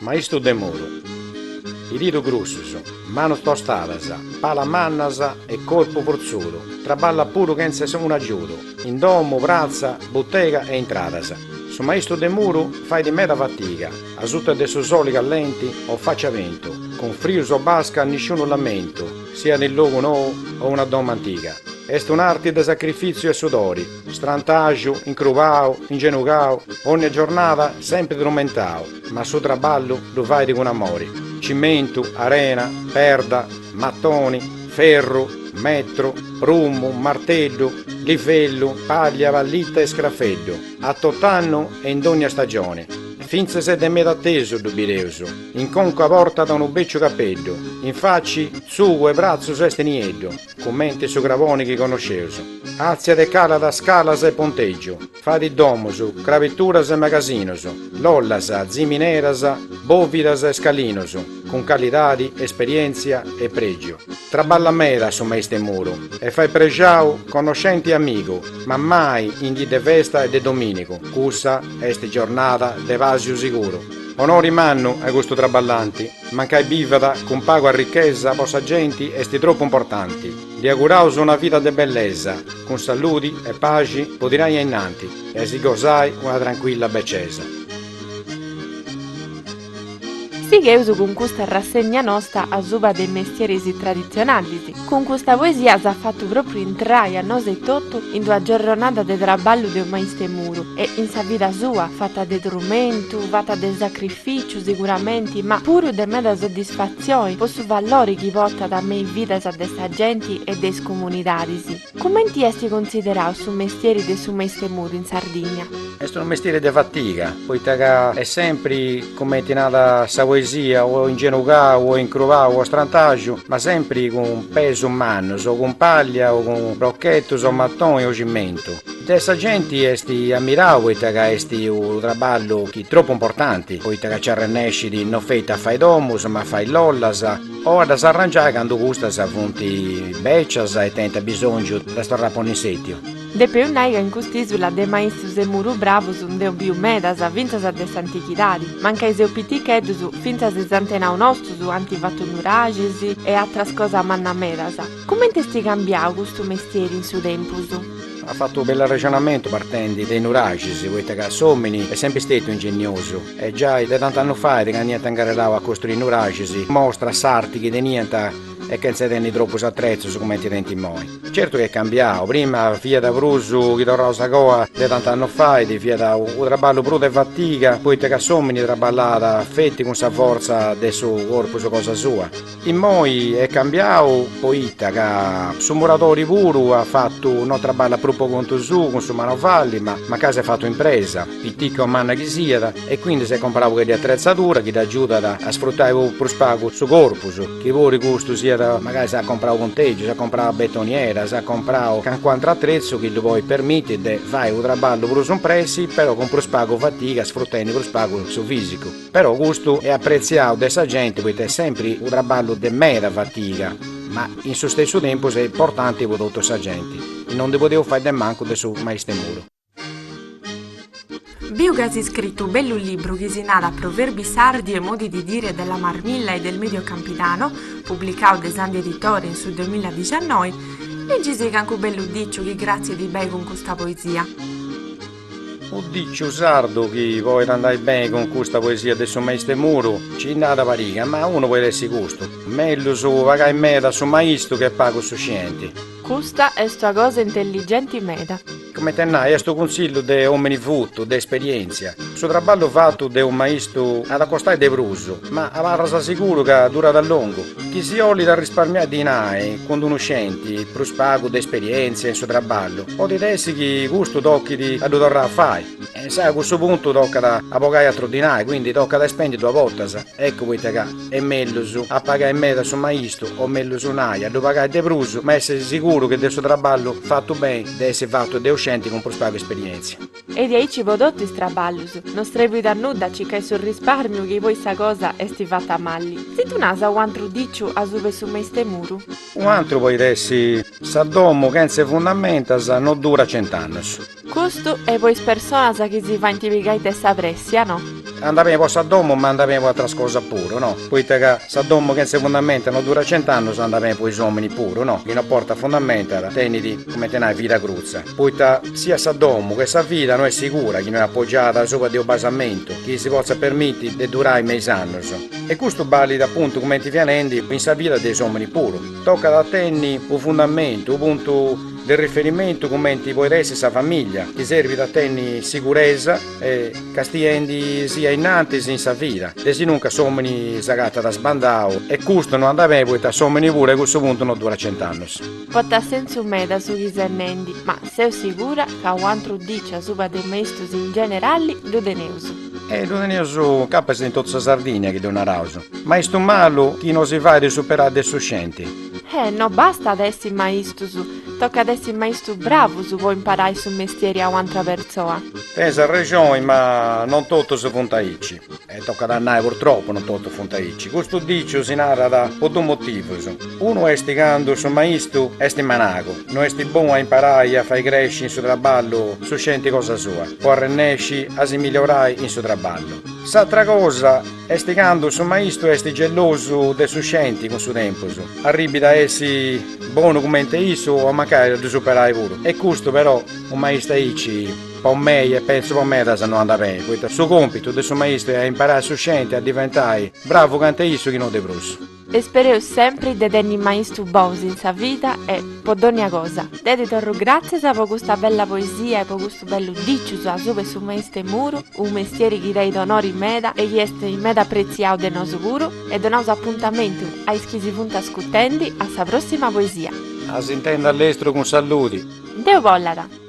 Maistu de muru, didus grussus, manus tostadas, palas mannas e corpu fortzudu, traballat puru chentza unu agiudu, in domu, pratza, butega e intradas. Su maistu de muru fait meda fatiga, asuta de su soli callenti o faci a bentu, cun frius o basca nisciunu lamentu, siat in logu nou o una domo antiga, est un'arti de sacrifìtziu e sudori, strantaxu, incrubau, ingenugau, ònnia giornada sempri trumentau, ma su traballu ddu fait cun amori, cimentu, arena, perda, matoni, ferru, metru, prummu, marteddu, livellu, pàllia, pallita e scrafeddu, a tot'annu e in dònnia stagioni, fintzas de meda atesu ddu bideus. In conca portat unu bèciu capeddu, in faci, tzugu e bratzus est nieddu, cumenti su craboni chi connosceus. Àtziat e calat scalas e pontègius, fait domus, crabeturas e magasinus, lollas, zimineras, bòvidas e scalinus, cun calidadi, esperièntzia e prègiu. Traballat meda su maistu 'e muru e fait prexau connoscenti e amigu, ma mai in dì de festa e de domìnigu, cussa est giornada de pàsiu siguru. Onori mannu a custu traballanti, mancai bivat cun pagu arrichesa po sa genti est tropu importanti. Ddi auguraus una vida de bellesa, cun saludi e paxi po tirai a innanti e a si gosai una trancuilla becesa. Sigheus cun custa rassegna nosta asuba de mestieris traditzionalis, Cun custa poesia s'as fatu pròpriu intrai a nosu etotu in d'una giorronada de traballu de unu maistu 'e muru e, in sa vida sua, fata de trumentu, fata de sacrificiu siguramenti ma puru de meda soddisfatzioni po su valori chi portat me is vidas de sa genti e de is comunidadis. Cumenti est cunsiderau su mestieri de su maistu 'e muru in Sardigna? Est unu mestieri de fatiga, poita ca est sempri, cumenti narat sa poesia, o ingenugau o incrubau o strantaxu, ma sempri cun pesus mannus, o cun pàllia o cun brochetus o matoni o cimentu. De sa genti est ammirau poita ca est unu traballu chi est tropu importanti, poita ca nci arrennescit no feti a fai domus, ma a fai lollas, o a ddas arrangiai candu custas funt bècias e tenint abisòngiu de ddas torrai a ponni in sètiu. Depeus nai ca in cust'ìsula de maistus 'e muru bravus nd'eus biu medas, fintzas de s'antichidadi. Mancai seus piticheddus, fintzas is antenaus nostus ant fatu nuraxis e atras cosas mannas medas. Comenti est cambiadu custu mestieri in su tempus? At fatu unu bellu arrexonamentu partendi de Nuraxis, poita ca s'omini est sempri stetiu ingeniosu e giai de tantu annu fait candu iant incarrerau a costrui Nuraxis mostrat s'arti chi teniant e chentza tenni tropus atrezus cumenti tenint immoi. Certu chi est cambiau, prima fiat prus chi torraus a coa de tantu annu fait, fiat unu traballu prus de fatiga poita ca s'omini traballat feti cun sa fortza de su corpus cosa sua, Immoi est cambiau poita ca su muradori puru at fatu no traballat prus po contu suu cun su manovalli ma mancai s'est fatu impresa, pitica o manna chi siat, e quindi s'est comporau u' pagheddu 'e atretzadura chi dd'agiudat a sfrutai prus pagu su corpus, chi puru custu siat magari s'at comporau pontegiu, s'at comporau betoniera, s'at comporau calincunu ateru atretzu chi ddu podit permiti de fai u' traballu prus impressi però cun prus pagu fatiga sfrutendi prus pagu su fisicu. Però custu est apretziadu de sa genti poita est sempri unu traballu de meda fatiga, ma in su stessu tempus est importanti po totu sa genti, e non ndi podeus fai de mancu de su maistemuru. Biu ca as iscritu u bellu libru chi si narat Proverbi sardi e modi di dire della Marmilla e del Medio Campidano, publicau de Sandhi Editori in su duemiladiciannoi, leggi-sì cancu bellu diciu chi cratzit beni cun custa poesia. Unu diciu sardu chi podit andai beni cun custa poesia de su maistu 'e muru, ci nd'at pariga, ma unu poit essi custu, mellus pagai meda su maistu che pagu su scienti. Custa est una cosa intelligenti meda. Comenti 'e nai, est unu cunsillu de omini futu, de esperientzia. Su traballu fatu de unu maistu at a costai de prus, ma abarras siguru ca durat a longu. Chi si 'olit arrisparmiai dinai cun d'unu scenti prus pagu de esperièntzia in su traballu, podit essi chi custu tochit a ddu torrai a fai. E insae a cussu puntu tocat a bogai atru dinai, quindi tocat a ispendi duas bortas. Eccu poita ca est mellus a pagai meda su maistu, o mellus nai, a ddu pagai de prus, ma essi siguru chi de su traballu fatu beni de essi fatu de u' scenti cun prus pagu esperièntzia. E diaici po totu is traballus. No strebbit a nudda circai su risparmiu chi poi sa cosa est fatta malli. Si ddu nas unu antru diciu asuba 'e su maistemuru. Unu antru poit essi. Sa domu chentze fundamentas no durat cent'annus. Custu est po is personas chi si faint pigai de sa pressia, no. Andat beni po sa domu ma andat beni po atras cosas puru, no. Poita ca sa domu chentze fundamentas no durat cent'annus andat beni po is ominis puru, no. Chi no portat fundamentas tenit, cumenti nai, vida crutza. poita siat sa domu che sa vida no est sigura chi no est apogiada subra de unu basamentu chi si potzat permiti de durai me is annos. E custu balit apuntu cumenti fia nendi in sa vida de is omini puru, tocat a tenni unu fundamentu, unu puntu de riferimentu cumenti poit essi sa familia chi serbit a tenni siguresa e castiendi si a innantis in sa vida, de sinuncas s'omini s'agatat sbandau e custu no andat beni poita s'omini puru a cussu puntu no durat cent'annos. Potat sensu meda su chi ses nendi, ma seu sigura ca u antru diciu asuba de maistus in generalli ddu teneus. E ddu teneus capas in totu sa Sardigna chi ddu naraus, maistu malu chi no si fait superai de su scenti. E no bastat essi maistus, tocat essi maistu bravus po imparai su mestieri a u antra pertzoa. Tenis arrexoni, ma non totus funt aici. E tocat a nai, purtropu non totus funt aici. Custu diciu si narat po duus motivus. Unu est candu su maistu est managu, no est bonu a imparai a fai cresci in su traballu su scenti cosa sua, po arrennesci a si migliorai in su traballu. S'atra cosa est candu su maistu est gelosu de su scenti cun su tempus, arribit a essi bonu cumenti issu o mancai a ddu superai puru. E custu però u maistu aici. Po mei, e pentzu po medas, no andat beni, poita su compitu de su maistu est a imparai su scenti a diventai bravu cantu issu chi no de prus. Ispereus sempri de tenni maistu bous in sa vida e po dònnia cosa. Deu ti torru gràtzias po custa bella poesia e po custu bellu dicius asuba de su maistu de muru, unu mestieri chi tenit onori meda e chi est meda pretziau de nosu puru, e donaus apuntamentu a is chi si funt ascutendi a sa prossima poesia. A s'intendi a lestru cun salludi. Deu bollat.